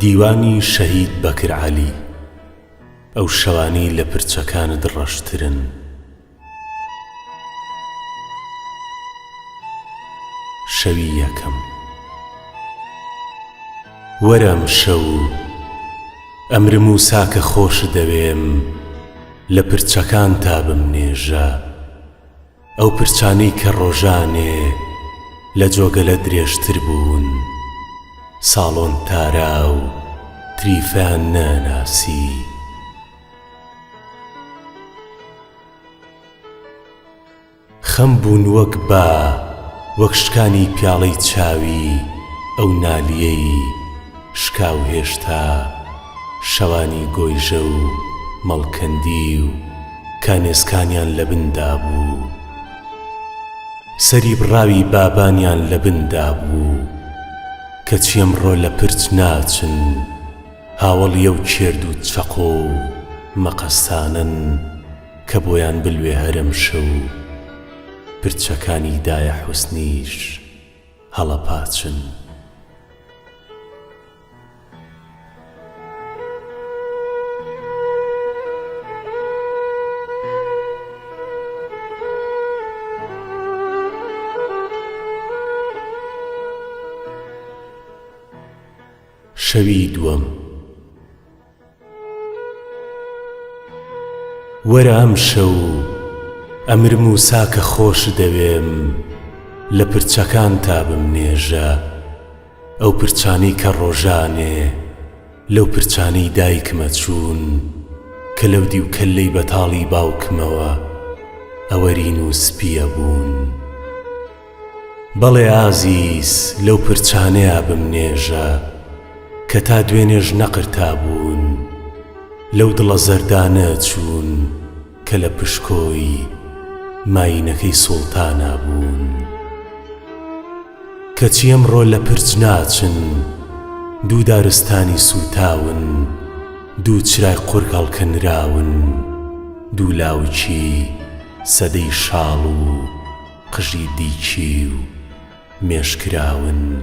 دیوانی شەهید بەکر عەلی ئەو شەوانەی لە پرچەکانت ڕەشترن شەوی یەکەم. وەرە ئەمشەو ئەمر موسا کە خۆشت دەوێم لە پرچەکانتا بمنێژە ئەو پرچانەی کە ڕۆژانێ لە جۆگەلە درێژتر بوون ساڵۆن تارا و تریفان ناناسی خەم بوون وەک با، وەک شکانی پیاڵەی چاوی ئەو نالیەی شکاو هێشتا شەوانی گۆیژە و مەڵکەندی و کانێسکانیان لە بن دابوو، سەری بڕاوی بابانیان لە بن دابوو، کەچی ئەمڕۆ لە پرچ ناچن، هاوەڵی ئەو کێرد و چەقۆ و مەقەستانەن. کە بۆیان بلوێ هەرم شەو و پرچەکانی دایە حوسنیش هەڵەپاچن. شەوی دووەم وەرە ئەمشەو ئەمر موسا کە خۆشت دەوێم لە پرچەکانتا بمنێژە ئەو پرچانەی کە ڕۆژانێ لەو پرچانەی دایکمە چوون کە لەو دیو کەللەی بەتاڵی باوکمەوە ئەوەرین و سپییە بوون. بەڵێ ئازیز لەو پرچانەیا بم نێژە کە تا دوێنێش نەقرتابوون، لەو دڵە زەردانە چوون کە لە پشکۆی ماینەکەی سوڵتانا بوون. کەچی ئەمڕۆ لە پرچ ناچن، دوو دارستانی سووتاون، دوو چرای قورگ هەڵکەنراون، دوو لاوکی سەدەی شاڵ و، قژی دیکی و مێش کراون.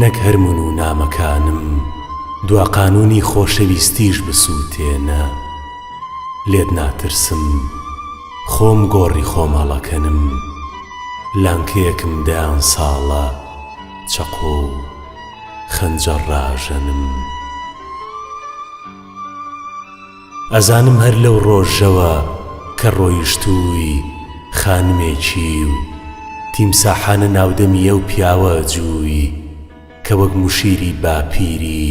نەک هەر من و نامەکانم دوا قانوونی خۆشەویستیش بسووتێنە لێت ناترسم خۆم گۆڕی خۆم هەڵەکەنم لانکەیەکم دەیان ساڵە چەقۆ و خەنجەر ڕاژەنم. ئەزانم هەر لەو ڕۆژەوە کە ڕۆیشتووی خانمێکی و تیمساحانە ناودەمی ئەو پیاوە ئەجووی کە وەک مشیری باپیری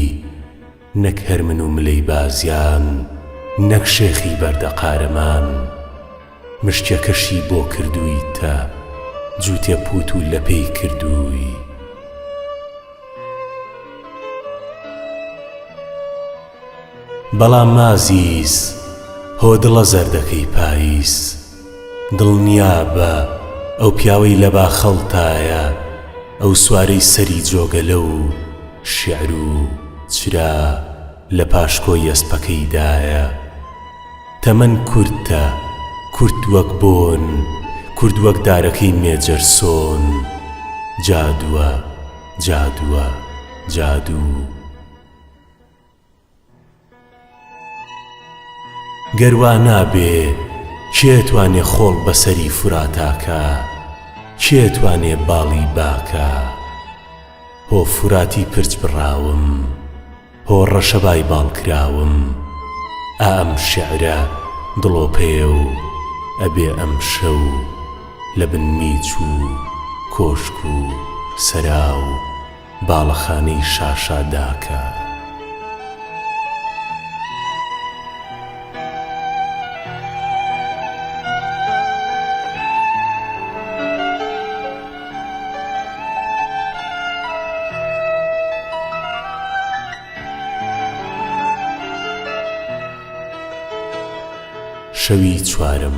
نەک هەر من و ملەی بازیان نەک شێخی بەردە قارەمان مشتیەکەشی بۆ کردوویتە جووتێ پووت و لەپێی کردووی. بەڵام ئازیز هۆ دڵە زەردەکەی پاییز دڵنیا بە ئەو پیاوەی لە باخەڵتایە ئەو سوارەی سەری جۆگەلە و شیعر و چرا لە پاشکۆی ئەسپەکەیدایە تەمەن کورتە کورت وەک بۆن کورت وەک دارەکەی مێجەرسۆن جادووە جادووە جادوو. گەر وا نابێ کێ توانێ خۆڵ بە سەری فراتا کا؟ کێ توانێ باڵی با کا؟ هۆ فراتی پرچ بڕاوم، هۆ ڕەشەبای باڵ کراوم، ئا ئەم شێعرە دڵۆپەیە و ئەبێ ئەمشەو لە بن میچ و کۆشک و سەرا و باڵەخانەی شاشا داکە. شەوی چوارەم.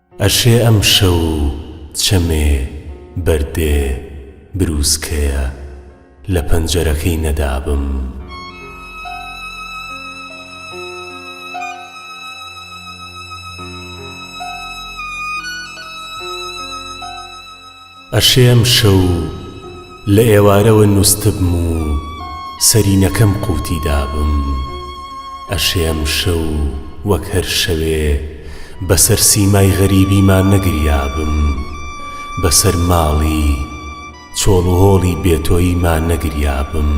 ئەشێ ئەم شەو و چەمێ، بەردێ، برووسکەیە لە پەنجەرەکەی نەدابم. ئەشێ ئەمشەو لە ئێوارەوە نووستبم و سەرینەکەم قووتی دابم. ئەشێ ئەمشەو وەک هەر شەوێ بەسەر سیمای غەریبیما نەگریابم، بەسەر ماڵی چۆڵ و هۆڵی بێتۆییما نەگریابم.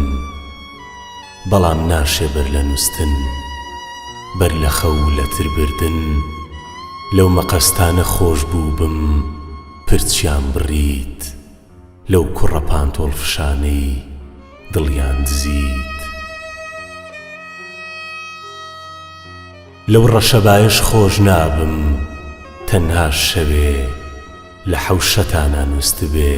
بەڵام ناشێ بەر لە نووستن، بەر لە خەو و لەتربردن لەو مەقەستانە خۆشبووبم. پرچیان بڕیت لەو کوڕە پانتۆڵ فشانەی دڵیان دزیت لەو ڕەشەبایەش خۆش نابم تەنها شەوێ لە حەوشەتانا نووستبێ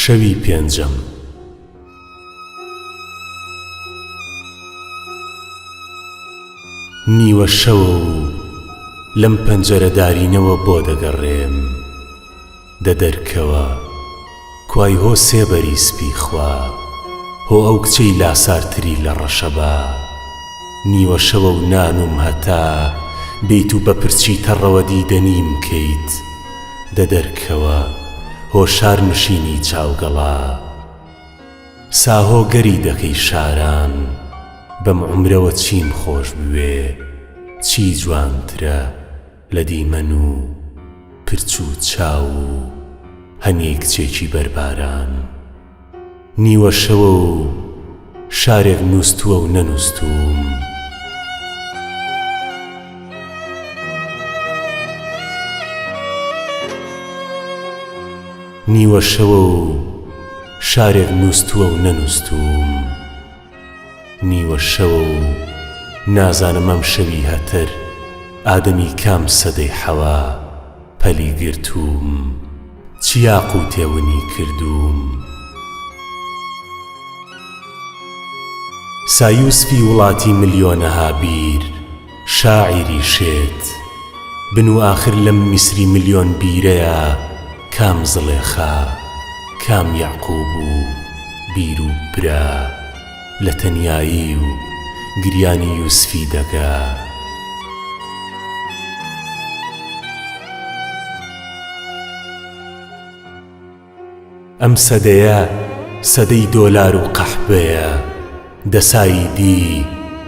شەوی پێنجەم. نیوە شەوە و لەم پەنجەرە دارینەوە بۆ دەگەڕێم دە دەرکەوە کوای هۆ سێبەری سپی خوا هۆ ئەو کچەی لاسارتری لە ڕەشەبا. نیوە شەوە و نانووم هەتا بیت و بە پرچی تەڕەوە دیدەنیم کەیت دە دەرکەوە هۆشار نشینی چاوگەڵا ساهۆ گەری دەکەی شاران بەم عومرەوە چیم خۆش بوێ چی جوانترە لە دیمەن و پرچ و چاو و هەنیە کچێکی بەرباران. نیوە شەوە و شارێک نووستووە و نەنووستووم. نیوە شەوە و شارێک نووستووە و نەنووستووم. نیوە شەوە و نازانم ئەم شەوی هەتر ئادەمی کام سەدەی حەوا پەلی گرتووم چ یاقووتێ ونی کردووم. سایوسفی وڵاتی ملیۆنەها بیر. شاعیری شێت بن و ئاخر لەم میسری ملیۆن بیرەیا کام زڵێخا، کام یەعقوب و بیر و برا لە تەنیایی و گریانی یوسفی دەگا؟ ئەم سەدەیە سەدەی دۆلار و قەحبەیە دەسای دی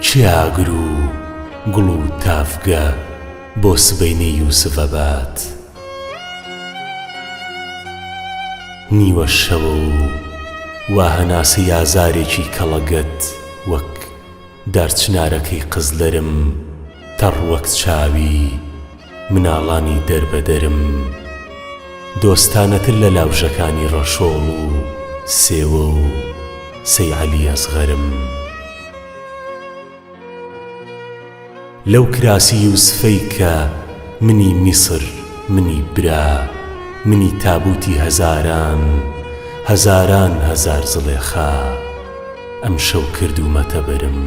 چیاگر و گوڵ و تاڤگە بۆ سبەینەی یوسڤەبات نیوە شەوە و وا هەناسەی ئازارێکی کەڵەگەت وەک دارچنارەکەی قزلرم تەڕ وەک چاوی مناڵانی دەربەدەرم دۆستانەتر لە لاوژەکانی ڕەشۆڵ و سێوە و سەی عەلی ئەسغەرم. لەو کراسی یوسفەی کە منی میسر، منی برا، منی تابووتی هەزاران، هەزاران هەزار زڵێخا، ئەمشەو کردوومەتە بەرم.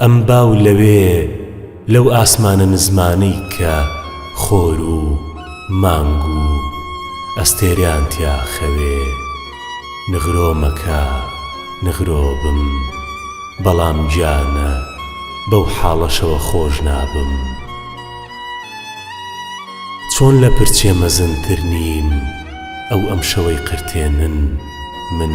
ئەم با و لەوێ لەو ئاسمانە نزمانەی کە خۆر و مانگ و ئەستێرەیان تیا خەوێ نغرۆ مەکە نغرۆ بم بەڵام گیانە بەو حاڵەشەوە خۆش نابم چۆن لە پرچێ مەزنتر نیم ئەو ئەمشەوەی قرتێنن من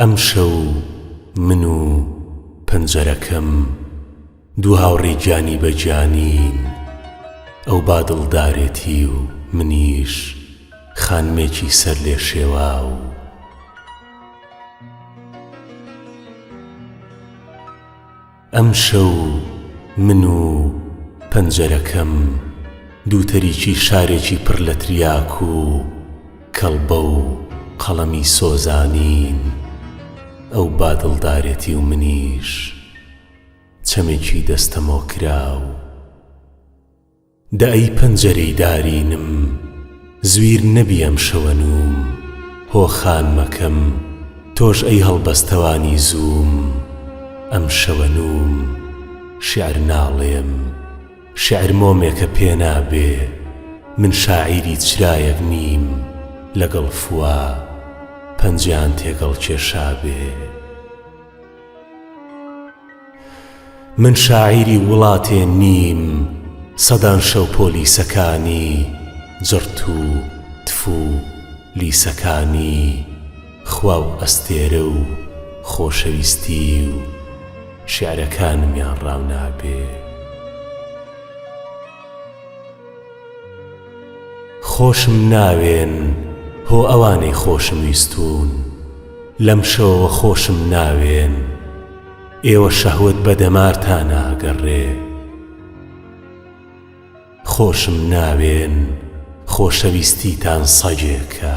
ئەمشەو من و پەنجەرەکەم دوو هاوڕێی گیانی بە گیانین، ئەو بادڵدارێتی و منیش خانمێکی سەرلێشێواو. ئەمشەو من و پەنجەرەکەم دووتەریکی شارێکی پڕ لە تریاک و کەڵبە و قەڵەمی سۆزانین، ئەو بادڵدارێتی و منیش چەمێکی دەستەمۆکراو. دە ئەی پەنجەرەی دارینم زویر نەبی ئەم شەوە نووم هۆ خانمەکەم تۆش ئەی هەڵبەستەوانی زووم ئەم شەوە نووم شیعر ناڵێم شیعر مۆمێکە پێ نابێ من شاعیری چرایەک نیم لەگەڵ فوا پەنجەیان تێگەڵ کێشابێ. من شاعیری وڵاتێ نیم سەدان شەو پۆلیسەکانی جڕت و تفو لیسەکانی خوا و ئەستێرە و خۆشەویستی و شێعرەکانمیان ڕاونابێ. خۆشم ناوێن هۆ ئەوانەی خۆشم ویستوون لەم شەوەوە خۆشم ناوێن ئێوە شەهوەت بە دەمارتانا ئەگەڕێ خۆشم ناوێن خۆشەویستیتان سەگێکە.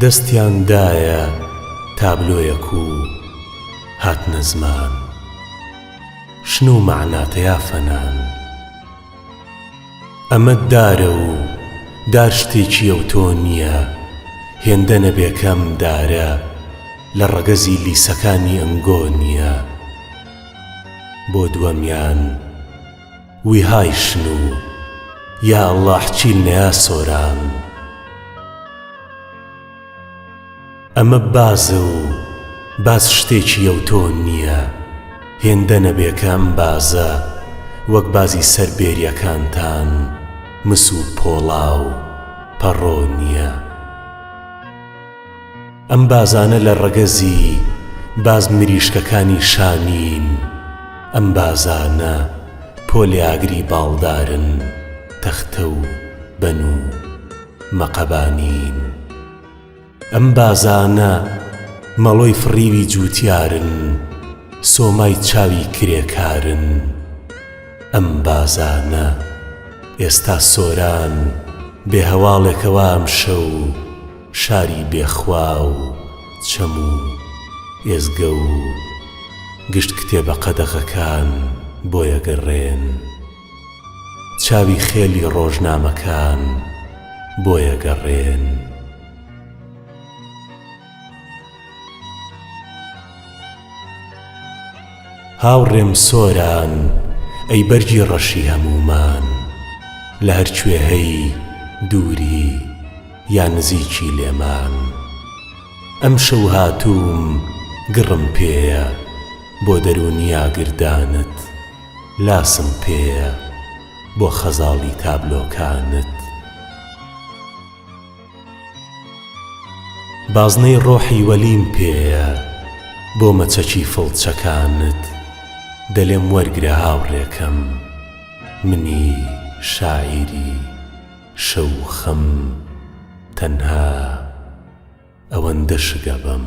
دەستیان دایە تابلۆیەک و هاتنە زمان شن و مەعنا تیا فەنان ئەمە دارە و دار شتێکییە و تۆ نییە هێندە نەبێ کەم دارە لە ڕەگەزی لیسەکانی ئەنگۆ نییە بۆ دووەمیان ویهای شنو یا اللە حچیل نیا سۆران ئەمە بازە و باز شتێکی یەوتۆ نییە هێندە نەبێکە ئەم بازە وەک بازی سەر بێریەکانتان مس و پۆڵا و پەڕۆ نییە. ئەم بازانە لە ڕەگەزی باز مریشکەکانی شانین، ئەم بازانە پۆلیاگری باڵدارن، تەختە و بەن و مەقەبانین. ئەم بازانە مەڵۆی فڕیوی جووتیارن، سۆمای چاوی کرێکارن. ئەم بازانە ئێستا سۆران بێ هەواڵێکەوە ئەمشەو، شاری بێ خوا و چەم و ئێزگە و گشت کتێبە قەدەغەکان بۆیەگەڕێن چاوی خێلی ڕۆژنامەکان بۆیەگەڕێن. هاوڕێم سۆران ئەی بەرگی ڕەشی هەموومان لە هەر کوێ هەی دووری یا نزیکی لێمان ئەمشەو هاتووم گڕم پێیە بۆ دەروونی ئاگردانت لاسم پێیە بۆ خەزاڵی تابلۆکانت. بازنەی ڕۆحی وەلیم پێیە بۆ مەچەکی فڵچەکانت دەلێم وەرگرە هاوڕێکەم منی شاعیری شەو خەم تەنها ئەوەندە شگەبەم.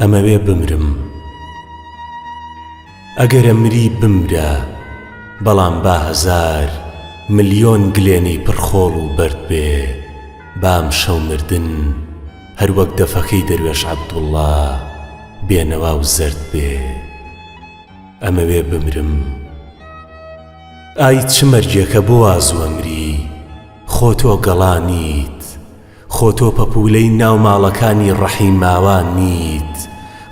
ئەمەوێ بمرم ئەگەرە مری بمرە بەڵام با هەزار ملیۆن گلێنەی پڕ خۆڵ و بەرد بێ بام شەو مردن هەر وەک دەفەکەی دەروێش عەبدوڵڵا بێنەوا و زەرد بێ ئەمەوێ بمرم ئای چ مەرگێکە بۆ وا زووە مری خۆ تۆ گەڵا نیت خۆ تۆ پەپولەی ناو ماڵەکانی ڕەحیم ماوا نیت،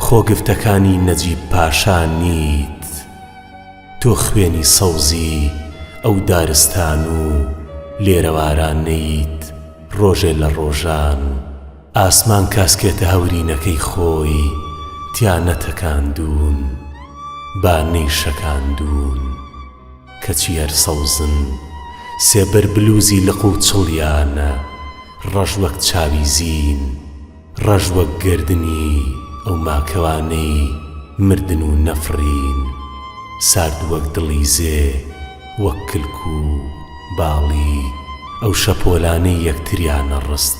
خۆ گفتەکانی نەجیب پاشا نیت. تۆ خوێنی سەوزی ئەو دارستان و لێرەوارانەیت، ڕۆژێ لە ڕۆژان ئاسمان کاسکێتە هەورینەکەی خۆی تیا نەتەکاندوون، با نەیشەکاندوون. کەچی هەر سەوزن، سێبەر بلوزی لق و چڵیانە، ڕەش وەک چاوی زین، ڕەش وەک گەردنی ئەو ماکەوانەی مردن و نەفڕین، سارد وەک دڵی زێ، وەک کلک و باڵی ئەو شەپۆلانەی یەکتریانە ڕست،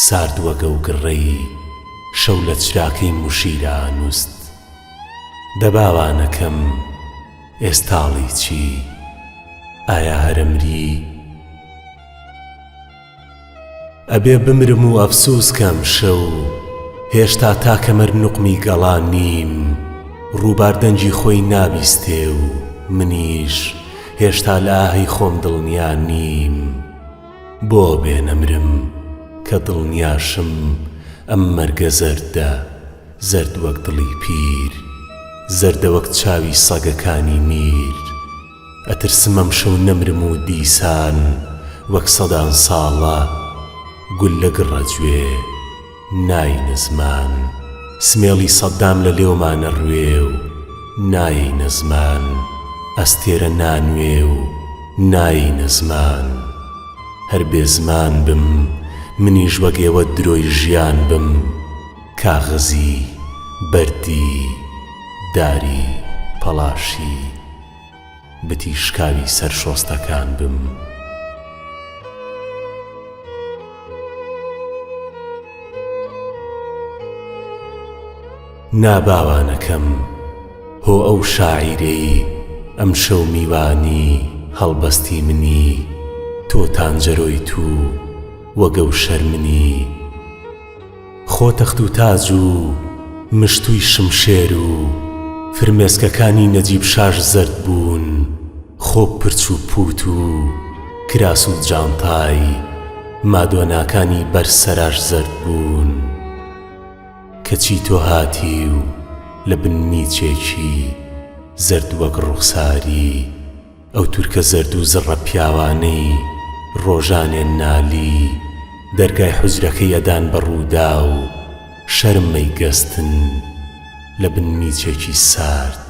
سارد وەک ئەو گڕەی شەو لە چراکەی موشیرا ئەنوست. دە باوانەکەم! ئێستاڵی چی ئایا هەرە مری؟ ئەبێ بمرم و ئەفسووس کەم شەو هێشتا تاکە مەر نوقمی گەڵا نیم ڕووبار دەنگی خۆی نابیستێ و منیش هێشتا لە ئاهی خۆم دڵنیا نیم بۆ بێ نەمرم کە دڵنیاشم ئەم مەرگە زەردە زەرد وەک دڵی پیر زەردە وەک چاوی سەگەکانی میر ئەترسم ئەمشەو نەمرم و دیسان وەک سەدان ساڵە گوللە گڕە جوێ ناینە زمان سمێڵی سەدام لە لێومان ئەڕوێ و نایەینە زمان ئەستێرە نانوێ و نایەینە زمان هەر بێ زمان بم منیش وەک ئێوە درۆی ژیان بم کاغەزی، بەردی، داری، پەڵاشی، بتی شکاوی سەر شۆستەکان بم. نا باوانەکەم، هۆ ئەو شاعیرەی ئەمشەو میوانی هەڵبەستی منی، تۆ تانجەرۆی تو و گەوشەر منی، خۆ تەخت و تاج و مشتووی شمشێر و فرمێسکەکانی نەجیب شاش زەرد بوون، خۆ پرچ و پووت و کراس و جانتای مادۆناکانی بەر سەراش زەرد بوون. کەچی تۆ هاتی و لە بن میچێکی زەرد وەک ڕووخساری، ئەو تورکە زەردو زڕە پیاوانەی ڕۆژانێ نالی دەرگای حوجرەکەی ئەدان بە ڕووداو شەرم مەیگەستن لە بن میچێکی سارد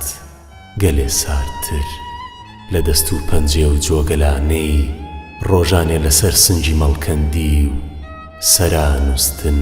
گەلێ ساردتر لە دەست و پەنجێ و جۆگەلانەی ڕۆژانێ لەسەر سنگی مەڵکەندی و سەرا نوستن.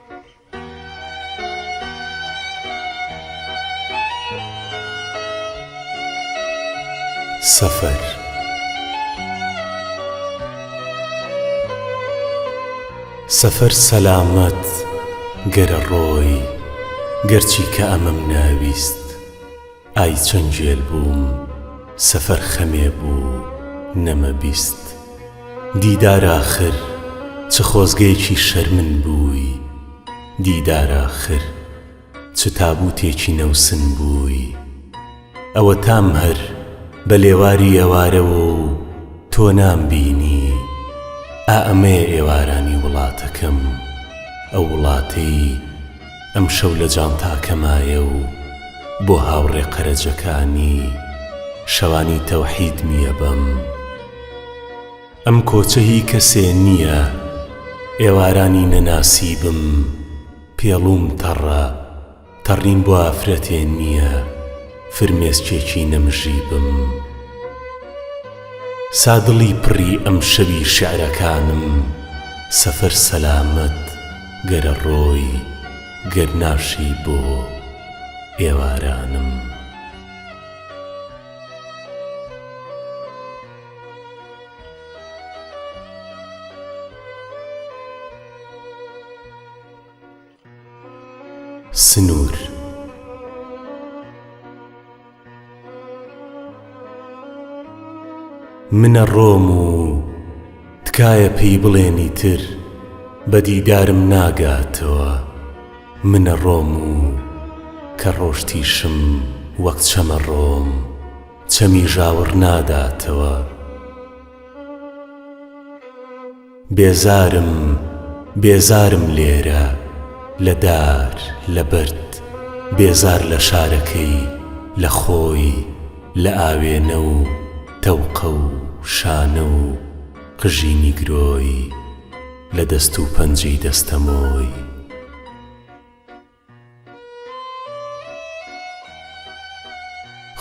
سەفەر سەلامەت گەرە ڕۆی گەرچی کە ئەمەم ناویست ئای چەند گێل بووم سەفەر خەمێ بوو نەمە بیست دیدار ئاخر چ خۆزگەیەکی شەرمن بووی دیدار ئاخر چ تابووتێکی نەوسن بووی ئەوەتام هەر بە لێواری ئێوارەوە و تۆ نامبینی ئا ئەمەیە ئێوارانی وڵاتەکەم ئەو وڵاتەی ئەمشەو لە جانتاکەمایە و بۆ هاوڕێ قەرەجەکانی شەوانی تەوحید میە بەم ئەم کۆچە هی کەسێ نیە ئێوارانی نەناسی بم پێڵووم تەڕە تەڕیم بۆ ئافرەتێ نیە فرمێسکێکی نەمژی بم سادڵی پڕی ئەمشەوی شیعرەکانم سەفەر سەلامەت گەرە ڕۆی گەر ناشی بۆ ئێوارانم. سنور. من ئەڕۆم و تکایە پێی بڵێن ئیتر بە دیدارم ناگاتەوە من ئەڕۆم و کە ڕۆشتیشم وەک چەم ئەڕۆم چەمی ژاوڕ ناداتەوە. بێزارم بێزارم لێرە لە دار لە بەرد بێزار لە شارەکەی لە خۆی لە ئاوێنە و تەوقە و شانە و قژی نیگرۆی لە دەست و پەنجەی دەستەمۆی.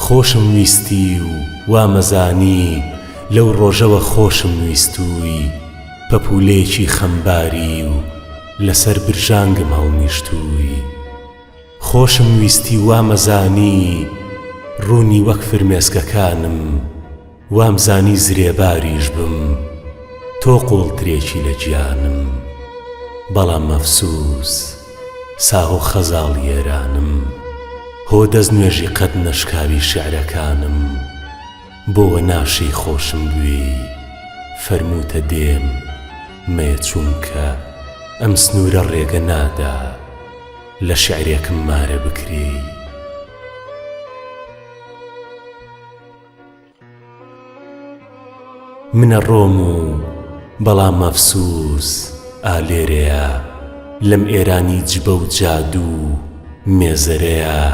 خۆشم ویستی و وامەزانی لەو ڕۆژەوە خۆشم ویستووی پەپوولەیەکی خەمباری و لەسەر برژانگم هەڵنیشتووی خۆشم ویستی وامەزانی ڕوونی وەک فرمێسکەکانم وامزانی زرێباریش بم تۆ قووڵترێکی لە گیانم بەڵام ئەفسووس ساغ و خەزاڵی ئێرانم هۆ دەستنوێژی قەد نەشکاوی شیعرەکانم بۆ وە ناشێی خۆشم بوێی فەرمووتە دێم مەیە چوونکە ئەم سنوورە ڕێگە نادا لە شیعرێکم مارە بکرێی. من ئەڕۆم و بەڵام ئەفسووس ئا لێرەیە لەم ئێرانی جبە و جادو و مێزەرەیا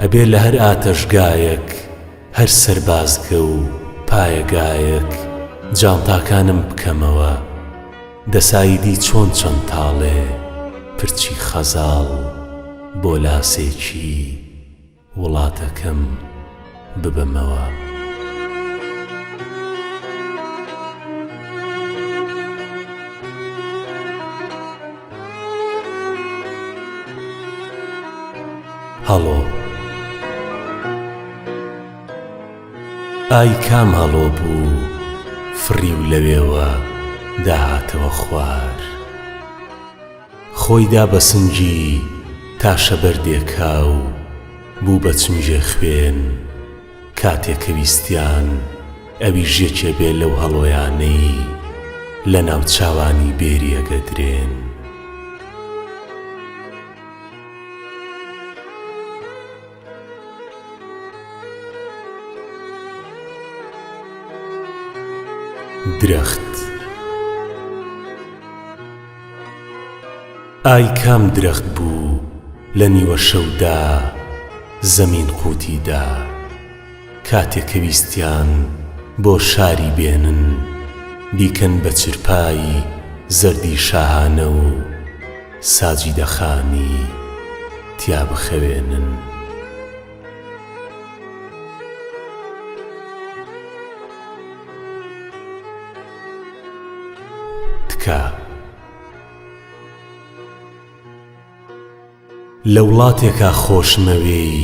ئەبێ لە هەر ئاتەشگایەک هەر سەربازگە و پایەگایەک جانتاکانم بکەمەوە دەساییدی چۆن چەند تاڵێ پرچی خەزاڵ بۆ لاسێکی وڵاتەکەم ببەمەوە. هەڵۆ، ئای کام هەڵۆ بوو فڕی و لەوێوە داهاتەوە خوار؟ خۆی دا بە سنگی تاشە بەردێکا و بوو بە چنگێ خوێن، کاتێ کە ویستیان ئەویش یەکێ بێ لەو هەڵۆیانەی لە ناو چاوانی بێری ئەگەدرێن. درەخت. ئای کام درەخت بوو لە نیوە شەودا زەمین قووتی دا کاتێ کە ویستیان بۆ شاری بێنن بیکەن بە چرپای زەردی شاهانە و ساجیدە خانی تیا بخەوێنن. تکا لە وڵاتێکا خۆشمەوێی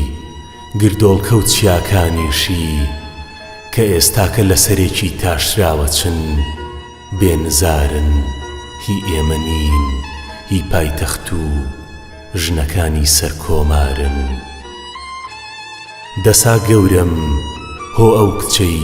گردۆڵکە و چیاکانیشی کە ئێستاکە لە سەرێکی تاشراوە چن بێ نزارن هی ئێمە نین هی پایتەخت و ژنەکانی سەرکۆمارن دەسا گەورەم هۆ ئەو کچەی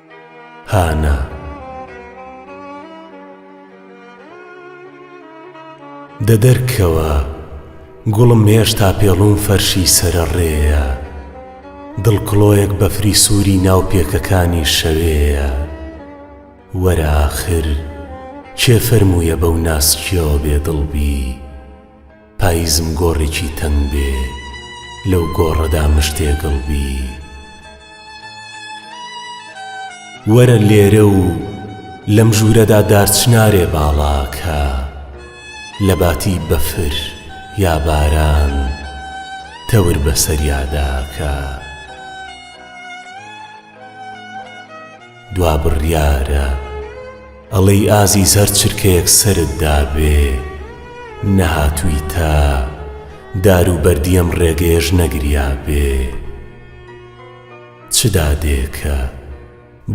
هانا دە دەرکەوە گوڵم هێشتا پێڵووم فەرشی سەرە ڕێیە دڵ کڵۆیەک بەفری سووری ناو پێکەکانی شەوێیە وەرە ئاخر کێ فەرموویە بەو ناسکیەوە بێدڵ بی؟ پایزم گۆڕێکی تەنگ بێ لەو گۆڕەدا مشتێگڵ بی وەرە لێرە و لەم ژوورەدا دارچنارێ باڵا کە لە باتی بەفر یا باران تەور بەسەریادا کە. دوا بڕیارە ئەڵێی ئازیز هەر چرکەیەک سەرت دابێ نەهاتوویتە دار و بەردی ئەم ڕێگەیەش نەگریابێ چ دادێکە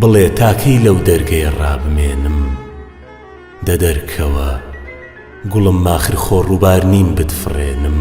بڵێ تا کەی لەو دەرگەیە ڕابمێنم دە دەرکەوە گوڵم ماخر خۆ ڕووبار نیم بتفڕێنم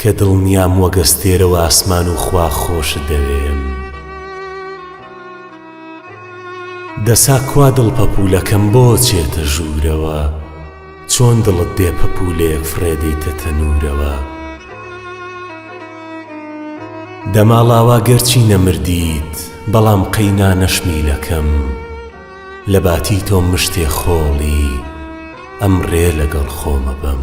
کە دڵنیام وەک ئەستێرە و ئاسمان و خوا خۆشت دەوێم. دەسا کوا دڵ پەپوولەکەم بۆ چێتە ژوورەوە چۆن دڵت بێ پەپوولەیەک فڕێ دەیتە تەنوورەوە دەما ڵاوا گەرچی نەمردیت بەڵام قەینا نەشمیلەکەم لە باتی تۆ مشتێ خۆڵی ئەمڕێ لەگەڵ خۆمە بەم.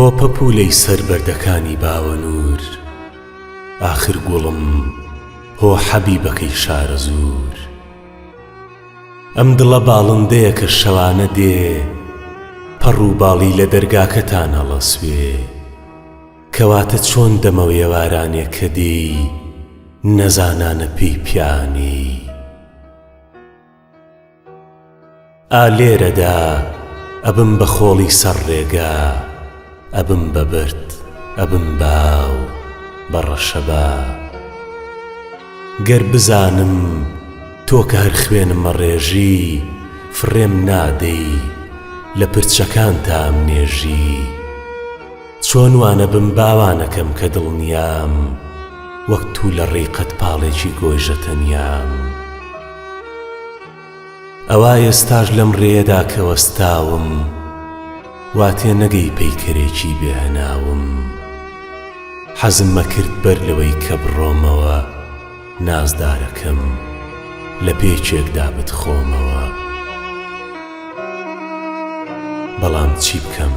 هۆ پەپوولەی سەر بەردەکانی باوەنوور ئاخر گوڵم هۆ حەبیبەکەی شارەزوور ئەم دڵە باڵندەیە کە شەوانە دێ پەڕ و باڵی لە دەرگاکەتان هەڵەسوێ کەواتە چۆن دەمەوێوارانێ کە دێی نەزانانە پێی پیانێی. ئا لێرەدا ئەبم بە خۆڵی سەر ڕێگا ئەبم بە برد ئەبم باو بە ڕەشەبا گەر بزانم تۆ کە هەر خوێنم مەڕێژی فڕێم نادەی لە پرچەکانتام نێژی چۆن وانەبم باوانەکەم کە دڵنیام وەک تو لە ڕێی قەدپاڵێکی گۆیژە تەنیام ئەوا ئێستاش لەم ڕێیەدا کە وەستاوم وا تێ نەگەی پەیکەرێکی بێ هەناوم حەزم مەکرد بەر لەوەی کە بڕۆمەوە نازدارەکەم لە پێچێکدا بتخۆمەوە بەڵام چی بکەم؟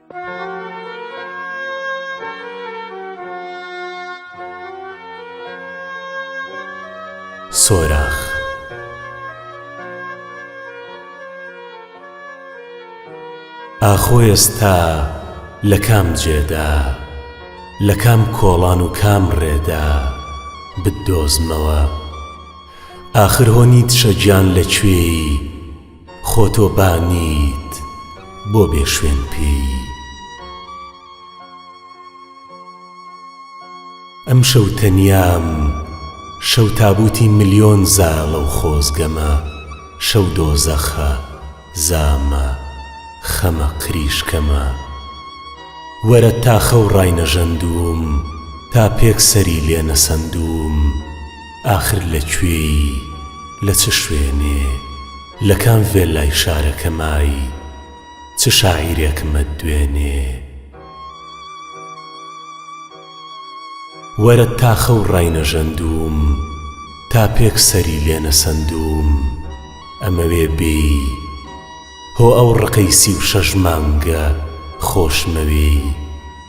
سۆراخ ئاخۆ ئێستا لە کام جێدا لە کام کۆڵان و کام ڕێدا بدۆزمەوە ئاخر هۆ نیتشە گیان لە کوێی خۆ تۆ با نیت بۆ بێ شوێن پێی. ئەمشەو تەنیام شەو تابووتی ملیۆن زاڵە و خۆزگەمە شەو دۆزەخە زامە خەمە قریشکەمە وەرە تا خەو ڕاینەژەندووم تا پێک سەری لێ نەسەندووم ئاخر لە کوێی لە چ شوێنێ لە کام ڤێللای شارەکە مای چ شاعیرێکمت دوێنێ وەرەت تا خەو ڕاینەژەندووم تا پێک سەری لێ نەسەندووم ئەمەوێ بێی هۆ ئەو ڕقەی سی و شەش مانگە خۆشمەوێی.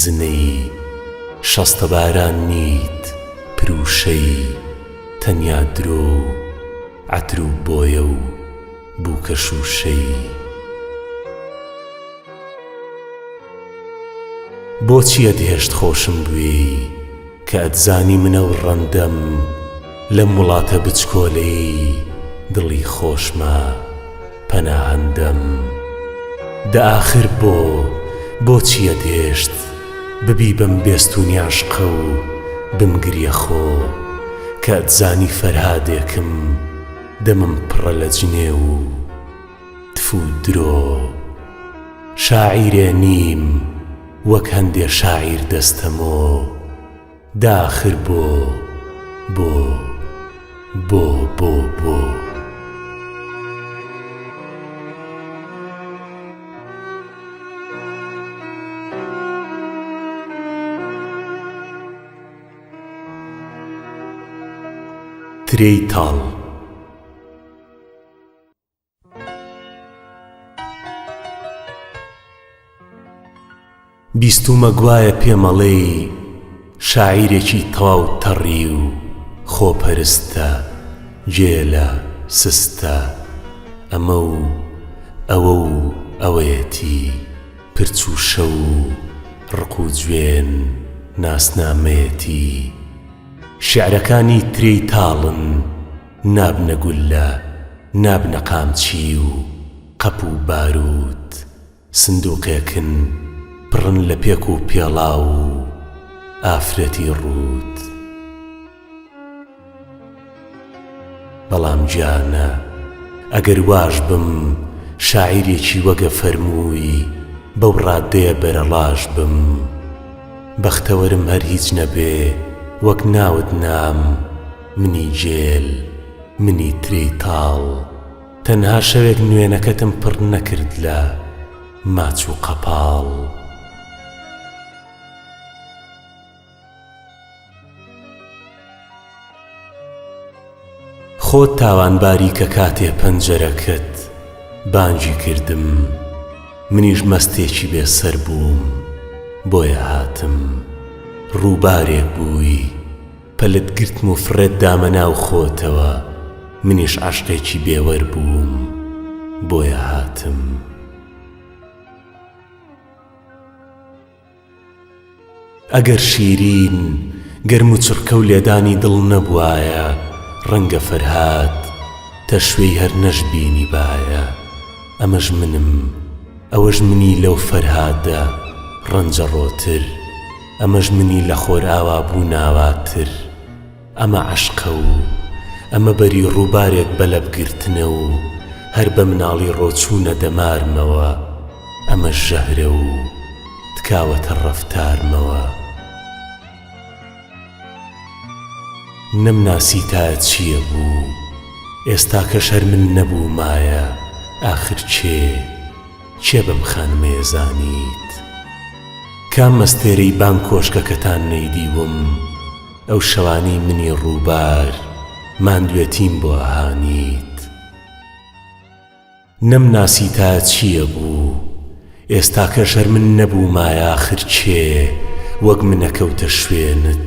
زنەی شەستەباران نیت پروشەی تەنیا درۆ و عەتر و بۆیە و بووکە شووشەی. بۆچی ئەدهێشت خۆشم بوێی؟ کە ئەتزانی منە و ڕەندەم لەم وڵاتە بچکۆلەیەی دڵی خۆشمە پەناهەندەم دە ئاخر بۆ بۆچی ئەتهێشت ببی بەم بێستوونی عەشقە و بمگریە خۆ کە ئەتزانی فەرهادێکم دەمم پڕە لە جنێو و تفو درۆ شاعیرێ نیم وەک هەندێ شاعیر دەستەمۆ داخر بۆ بۆ بۆ بۆ بۆ. ترێی تاڵ. بیستوومە گوایە پێمەڵێی شاعیرێکی تەواو تەڕی و خۆپەرستە، گێلە، سستە، ئەمە و ئەوە و ئەوەیەتی، پرچ و شە و ڕق و جوێن ناسنامەیەتی، شیعرەکانی ترێی تاڵن، نابنە گوللە نابنە قامچی و قەپ و بارووت سندووقێکن پڕن لە پێک و پێڵاو و ئافرەتی ڕووت بەڵام گیانە ئەگەر واش بم شاعیرێکی وەگە فەرمووی بەو ڕادەیە بەرەڵاش بم بەختەوەرم هەر هیچ نەبێ وەک ناوت نام منی گێل، منی ترێی تاڵ، تەنها شەوێک نوێنەکەتم پڕ نەکرد لە ماچ و قەپاڵ. خۆت تاوانباری کە کاتێ پەنجەرەکەت بانگی کردم، منیش مەستێکی بێ سەر بووم، بۆیە هاتم، ڕووبارێک بووی، پەلت گرتم و فڕێت دامە ناو خۆتەوە منیش عەشقێکی بێوەر بووم بۆیە هاتم. ئەگەر شیرین گەرم و چڕکە و لێدانی دڵ نەبوایە ڕەنگە فەرهاد تەشوێی هەر نەشبینیبایە ئەمەش منم ئەوەش منی لەو فەرهادە ڕەنجەڕۆتر. ئەمەش منی لە خۆرئاوا بوو ناواتر ئەمە عەشقە و ئەمە بەری ڕووبارێک بە لەب گرتنە و هەر بە مناڵی ڕۆچوونە دەمارمەوە ئەمەش ژەهرە و تکاوەتە ڕەفتارمەوە نەمناسی تا چییە بوو ئێستاکەش هەر من نەبوومایە ئاخر کێ؟ کێ بەم خانمەیە زانیت؟ کام مەستێرەی بان کۆشکەکەتان نەیدیوم ئەو شەوانەی منی ڕووبار ماندوێتیم بۆ ئەهانیت؟ نەمناسی تا چییە بوو ئێستاکەژەر من نەبوومایە ئاخر کێ وەک من ئەکەوتە شوێنت؟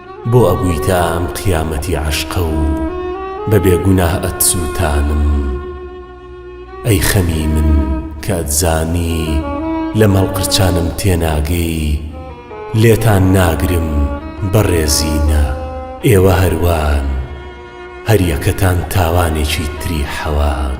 بۆ ئەبویتە ئەم قیامەتی عەشقە و بە بێ گوناه ئەتسوتانم ئەی خەمی من کە ئەتزانی لەم هەڵقرچانم تێناگەی لێتان ناگرم بەڕێزینە ئێوە هەروان هەر یەکەتان تاوانێکی تری حەوان.